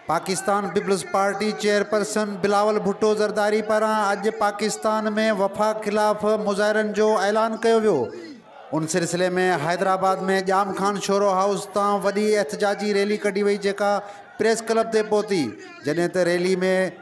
Pakistan Peoples Party chairperson Bilawal Bhutto Zardari پاران اڄ پاڪستان ۾ وفاق خلاف مظاهرن جو اعلان ڪيو ويو ان سلسلي ۾ حيدرآباد ۾ ڄام خان شورو هائوس تان وڏي احتجاجي ريلي ڪڍي وئي جيڪا پريس ڪلب تي پهتي جڏهن ته ريلي ۾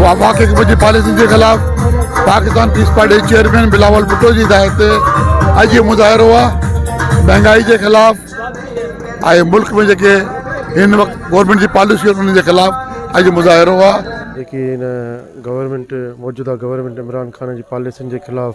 وفاقي حڪومت جي پاليسين جي خلاف پاڪستان پيپلز پارٽي جي چيئرمين بلاول ڀٽو جي هدايت تي اڄ اهو مظاهرو آهي مهانگائي جي خلاف ۽ ملڪ ۾ جيڪي هن وقت گورنمينٽ جي پاليسيون انهن جي خلاف اڄ مظاهرو آهي جيڪي هن گورنمينٽ موجوده گورنمينٽ عمران خان جي پاليسين جي خلاف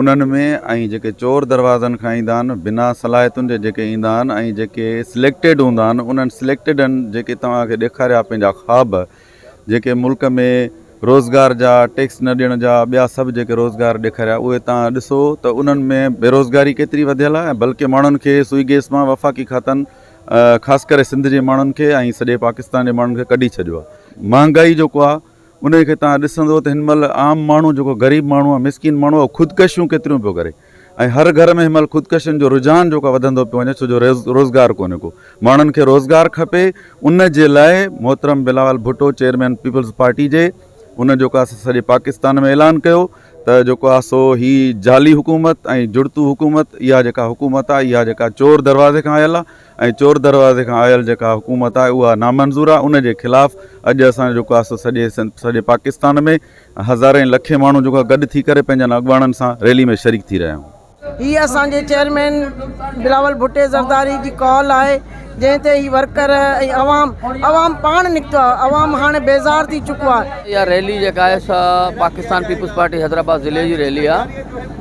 انهن ۾ ۽ جيڪي چور دروازن کان ايندا آهن بنا صلاحيتن جي جيڪي ايندا آهن ۽ جيڪي سليڪٽيڊ هوندا آهن انهن سليڪٽيڊن جيڪي توهان کي ڏيکاريا پنهنجا خواب جيڪي ملڪ ۾ روزگار جا ٽيڪس نه ڏيڻ جا ٻيا سڀ جيڪي روزگار ڏيکاريا اهي توهان ڏسو ته انهن ۾ بيروزگاري ڪيتري وڌيل آهي بلڪه ماڻهن کي سوئي گيس مان وفاقي کاتن خاص ڪري سنڌ جي ماڻهن کي ۽ سڄي پاڪستان جي ماڻهن کي ڪڍي ڇڏيو آهي مهانگائي جيڪو آهي انهي کي توهان ڏسندو ته هن مهل عام ماڻهو جيڪو غريب ماڻهو آهي مسڪين ماڻهو اهو خودڪشيون ڪيتريون پيو ڪري ۽ هر گهر ۾ هن مهل خودڪشين جو رجحان جيڪو آهي وڌندو پيو وڃي ڇو جو روزگار ڪونهي ڪو ماڻهن کي روزگار کپي ان جي لاء محترم بلاول ڀٽو چيئرمين پيپلز پارٽي جي ان جيڪو آهي سڄي پاڪستان ۾ اعلان ڪيو ته جيڪو آهي سو هي جعلي حڪومت ۽ جڙتو حڪومت اها جيڪا حڪومت آهي اها جيڪا چور دروازي کان آيل آهي ۽ چور دروازي کان آيل جيڪا حڪومت آهي اها نامنظور آهي ان جي خلاف اڄ اسان جيڪو آهي سو سڄي سنڌ سڄي پاڪستان ۾ هزارين لکين ماڻهو جيڪو آهي گڏ ٿي ڪري پنهنجن اڳواڻن سان ريلي ۾ شريڪ ٿي رهيا آهيون. هي اسان جي چيئرمين بلاول ڀٽي زرداري جي ڪال آهي جنهن تي هي ورڪر ۽ عوام عوام پاڻ نڪتو آهي عوام هاڻي بيزار ٿي چڪو آهي. اها ريلي جيڪا آهي سا پاڪستان پيپلز پارٽي حيدرآباد ضلعي جي ريلي آهي.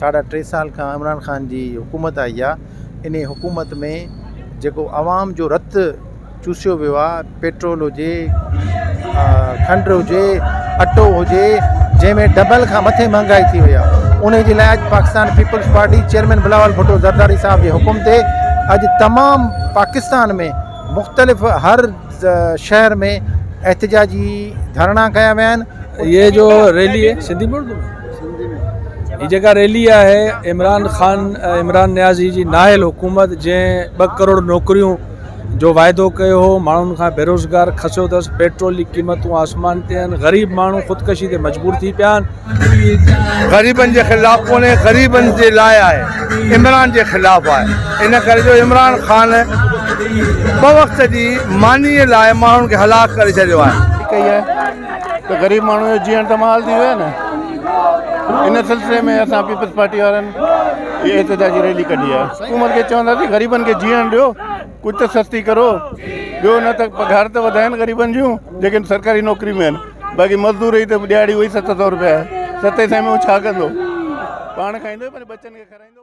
ساڍا ٽي سال کان عمران خان جي حڪومت آئي آ ان حڪومت ۾ جيڪو عوام جو رت چوسيو ويو آ پيٽرول هجي کنڊ هجي اٽو هجي جنهن ۾ ڊبل کان مٿي مهانگائي ٿي ويا ان جي لاء اڄ پاڪستان پيپلز پارٽي چيئرمين بلاول ڀٽو زرداري صاحب جي حڪم تي اڄ تمام پاڪستان ۾ مختلف هر شهر ۾ احتجاجي ڌرڻا ڪيا ويا آهن هي جو ريلي سنڌي ۾ اردو ۾ هي جيڪا ريلي آهي عمران خان عمران نيازي جي ناهل حڪومت جنهن ٻه ڪروڙ نوڪريون جو واعدو ڪيو هو ماڻهن کان بيروزگار کسيو اٿس پيٽرول جي قيمتون آسمان تي آهن غريب ماڻهو خودڪشي تي مجبور ٿي پيا آهن غريبن جي خلاف ڪونهي غريبن جي لاء آهي عمران جي خلاف آهي ان ڪري جو عمران خان ٻه وقت جي ماني لاء ماڻهن کي هلاڪ ڪري ڇڏيو آهي. ڪئي آهي ته غريب ماڻهو جو جيئڻ ته محال ٿي ويو آهي نه ان سلسلي ۾ اسان پيپلز پارٽي وارن احتجاجي ريلي ڪڍي آهي حڪومت کي چونداسين غريبن کي جيئڻ ڏيو. ڪجهه ته سستي ڪرو ٻيو نه ته پگهار ته وڌائن غريبن جون جيڪي سرڪاري نوڪري ۾ آهن باقي مزدور جي ته ڏهاڙي اهي ست سؤ روپيا آهي ست سئي ۾ هو ڇا ڪندو پاڻ کائيندو پنهنجي ٻچن کي کارائيندو